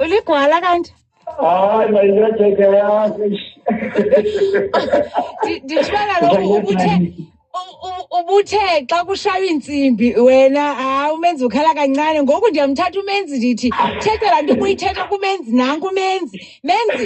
uligwala kanti hayi mayinetheke yakhe ndishwela lokhu ubuthe ubuthe xa kushaywa iintsimbi wena hayi umenzi ukhala kancane ngoku ndiyamthatha umenzi ndithi thetha laa nto ubuyithetha kumenzi nanku umenzi menzi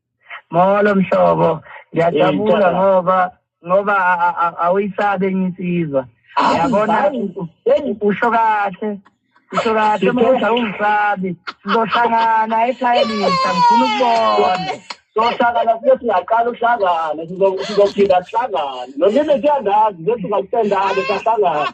Molo mhlobo, ngiyajabula ngoba ngoba awuyisabe nginsizwa. Yabona usho kahle. Usho kahle manje awungisabi. Sizohlangana ekhaya lisa ngifuna ukubona. Sohlangana sibe singaqala uhlangane sizophinda sihlangane. Nonini kuyandazi ngethi ngakusendane sahlangana.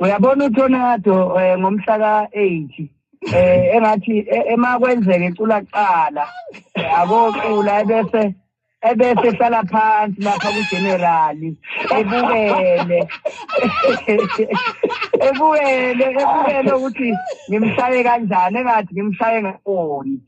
uyabona uTornado eh, ngomhla ka-80 eh engathi e, ema kwenzeke icula kuqala eh, akocula ebese ebese hlala phansi lapha kugenerali ebukele ebukele ebukele ukuthi ngimshaye kanjani engathi ngimshaye ngakoni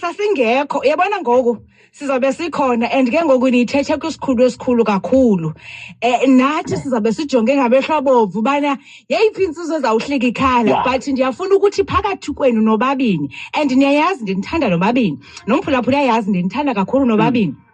sasingekho uyabona ngoku sizabe sikhona and ke ngoku niyithethe kwisikhulu esikhulu kakhulu um nathi sizabe sijonge ngamehlo abomvu ubana yeyiphi intsizwa ezawuhlika ikhala but ndiyafuna ukuthi phakathi kwenu nobabini and niyayazi ndinithanda nobabini nomphulaphula ayazi ndinithanda kakhulu nobabini mm.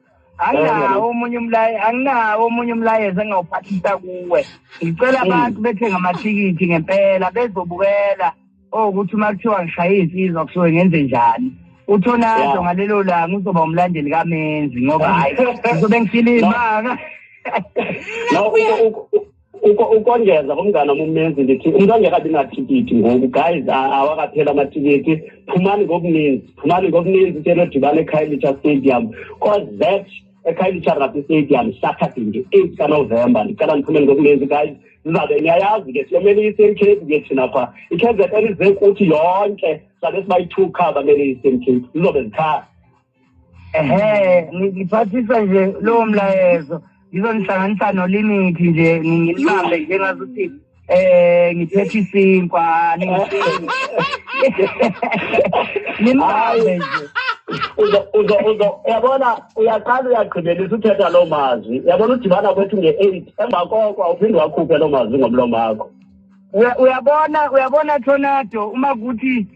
anginawo omunye umlaye anginawo omunye umlayezo engawuphathisa kuwe ngicela mm. abantu bethenga amathikithi ngempela bezobukela okuthi oh, uma kuthiwa ngishaye insizwa kusuke ngenze njani uthonado ngalelo langa uzoba umlandeli kamenzi ngoba hayi ngizobe ngifile imanga ukongeza kumngane wami umenzi ndithi umuntu angekabi nathikithi ngoku guys awakaphela amathikithi phumani ngokuninzi phumani ngokuninzi into enodibana ekhayelitsha stadium cause that ekhayelitsha rugby stadium saturday nge-eight kanovemba ndicela ndiphumeni ngokuninzi guys sizabe niyayazi ke siyomele i-eastern cape ke thina pha i-kzn ize kuthi yonke sabe sibayi-two car bamele i-eastern cape zizobe zikhaya ehe ngiphathisa nje lowo mlayezo ngizonihlanganisa nolimithi nje ngilibambe nje ngazuthi eh ngiphethe isinkwa nimbambe nje uzo uzo uyabona uyaqala uyagqibelisa uthetha loo mazwi uyabona udibana kwethu nge-eight emva koko awuphinde wakhuphe loo mazwi ngomlomo wakho uyabona uyabona tornado uma kuthi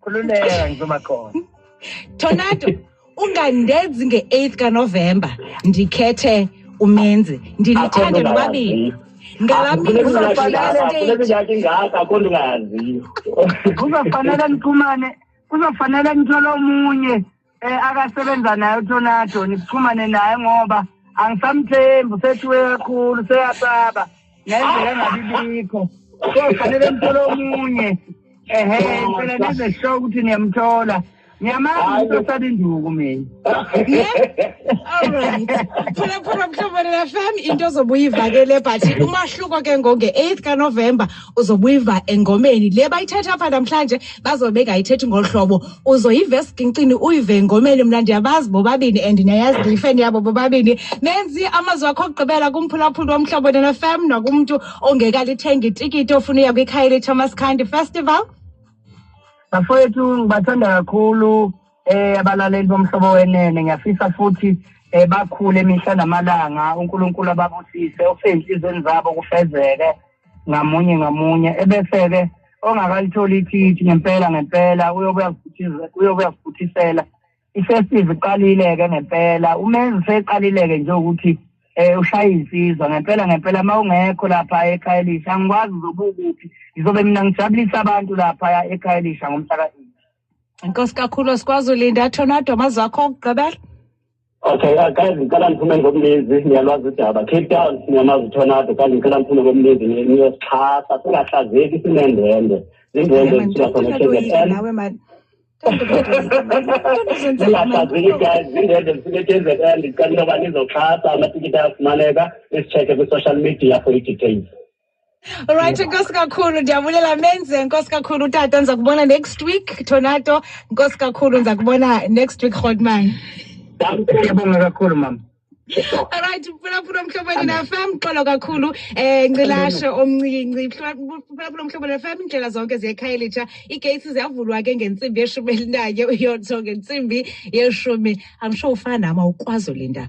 khululeka ngizoba khona tornado ungandenzi nge-8th kanovemba ndikhethe umenzi ndinithande nobabili kuzofanele niphumane kuzofanele nithole omunye Eh akasebenza naye uTonado nikuxhumane naye ngoba angisamthembi usethiwe kakhulu seyasaba ngendlela engabi bikho. So fanele mthole omunye. Ehhe phela nize show ukuthi niyamthola. Ngiyamazi usesaba induku mina. Alright. Phela phela mhlobana FM into ozobuye ivakele but umahluko ke ngo 8 ka November uzobuyiva engomeni le bayithetha apha namhlanje bazobe bengayithethi ngolu hlobo uzoyiva esigincini uyive engomeni mna ndiyabazi bobabini and ndiyayazi ndiyifeni yabo bobabini menzi amazwi wakho okugqibela kumphulaphuli womhlobo nena fam nakumntu ongekalithenga itikiti ofuna uya kwikhaya lethomas khandi festival bafowethu ngibathanda kakhulu um eh, abalaleli bomhlobo wenene ngiyafisa futhi um bakhule mihla namalanga unkulunkulu ababusise okusezinhliziyweni zabo kufezeke ngamunye ngamunye ebese-ke ongakalitholi ithithi ngempela ngempela uyobuyakufuthisela ifestival iqalile-ke ngempela umenzi seqalile-ke nje ukuthi um ushaye insizwa ngempela ngempela uma ungekho lapha ekhaya elisha angikwazi uzobukuphi ngizobe mina ngijabulisa abantu laphaya ekhaya elisha ngomhla ka-eight Inkosi kakhulu sikwazi ulinda Tornado amazi wakho okugqibela. Okay, uh, guys, ngicela ngiphume ngomlezi, ngiyalwazi udaba. Cape Town ngiyamazi Tornado, guys, ngicela ngiphume ngomlezi, ngiyosixhasa, singahlazeki sinendwendwe. Indwendwe sisuka khona eKZN. Nawe manje. Singahlazeki guys, indwendwe sisuka eKZN, ngicela uba nizoxhasa amatikiti ayafumaneka, isicheke kwi-social media for i-details. Alright, nkosi kakhulu ndiyabulela menze nkosi kakhulu utata ndiza kubona next week Tornado nkosi kakhulu ndiza kubona next week Godman. Ndiyabonga kakhulu mama. Alright, phulaphula omhlobeni nafam xolo kakhulu eh ncilashe omncinci phulaphula omhlobeni nafam indlela zonke ziyekhayelitsha iigates ziyavulwa ke ngentsimbi yeshumi elinanye uyotho ngentsimbi yeshumi i'm sure ufana nama ukwazi ulinda